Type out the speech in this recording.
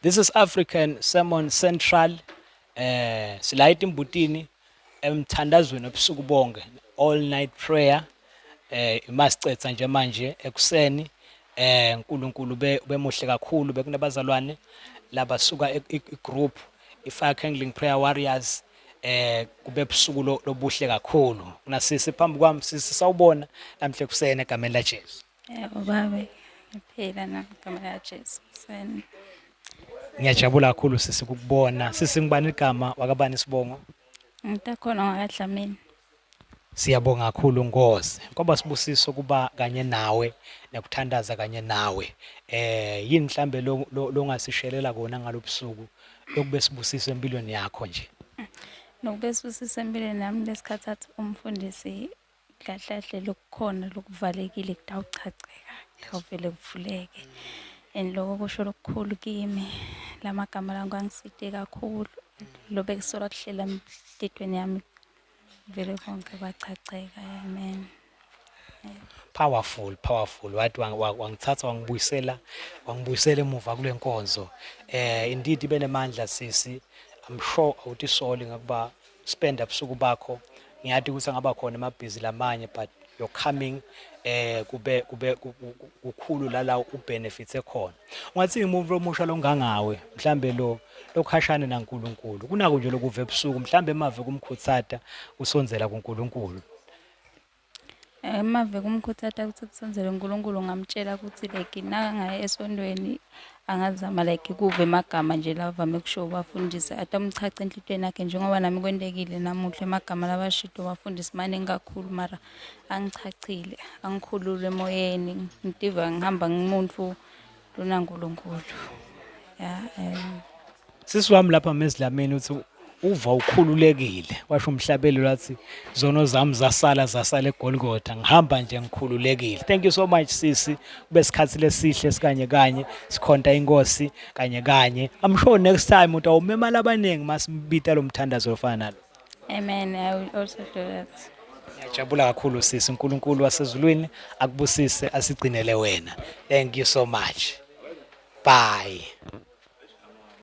This is African Sermon Central. Eh sila itimbutini emthandazweni obusuku bonke all night prayer. Eh imasicetha nje manje ekuseni eh uNkulunkulu be bemuhle kakhulu bekunabazalwane labasuka e- i- igroup iFire Kindling Prayer Warriors eh kube busuku lo- lobuhle kakhulu. Kunasisi phambi kwami sisi sawubona namhle kuseni egameni laJesu. Yebo baba, ngiphila namagama kaJesu. Sen- Ngiyajabula kakhulu sisi ukukubona. Sisi ngibani igama wakabani isibongo? Ngitakhona ngakadlamini. Siyabonga kakhulu Nkosi. Kwaba sibusiso kuba kanye nawe nekuthandaza kanye nawe. Eh yini mhlambe lo- lo- longasishelela kona ngalobusuku lokube sibusiso empilweni yakho nje. Nokube sibusisa empilweni nami lesikhathi athi umfundisi kahle kahle lokukhona lokuvalekile kutawuchacheka kutawuvele kuvuleke and loko kusho lokukhulu kimi la magama la ngangiside kakhulu lo bekusola kuhlela emhlethweni yami vele konke kwachacheka amen powerful powerful wathi wangithatha wangibuyisela wangibuyisela emuva kule nkonzo eh indeed ibenemandla sisi i'm sure awutisoli ngokuba spend ubusuku bakho ngiyati ukuthi angaba khona emabhizi lamanye but you're coming eh kube kube kukhulu lala ubenefits ekhona ungathi umuntu omusha longangawe mhlambe lo lokhashane naNkuluNkulu kunako nje lokuve ebusuku mhlambe emave kumkhutsata usondzela kuNkuluNkulu Uma vele umkhuthathi athi akusebenzele uNkulunkulu ngamtshela ukuthi like nakangaya esontweni angazama like kuve emagama nje la avame kusho ubafundisi athi amchache enhlitweni yakhe njengoba nami kwentekile namuhla emagama labashito ubafundisi maningi kakhulu mara angichachile angikhulule emoyeni ngitiva ngihamba ngimuntu lona Nkulunkulu ya um sisi wami lapha mezidlameni uthi uva ukhululekile washo umhlabelo lathi zono zami zasala zasala egolgotha ngihamba nje ngikhululekile thank you so much sisi kube sikhathi lesihle sikanye kanye sikhonta inkosi kanye kanye i'm sure next time utawumemala abaningi masimbita lo mthandazo ofana nalo Amen. I will also do that. Ngiyajabula kakhulu sisi uNkulunkulu wasezulwini akubusise asigcinele wena. Thank you so much. Bye.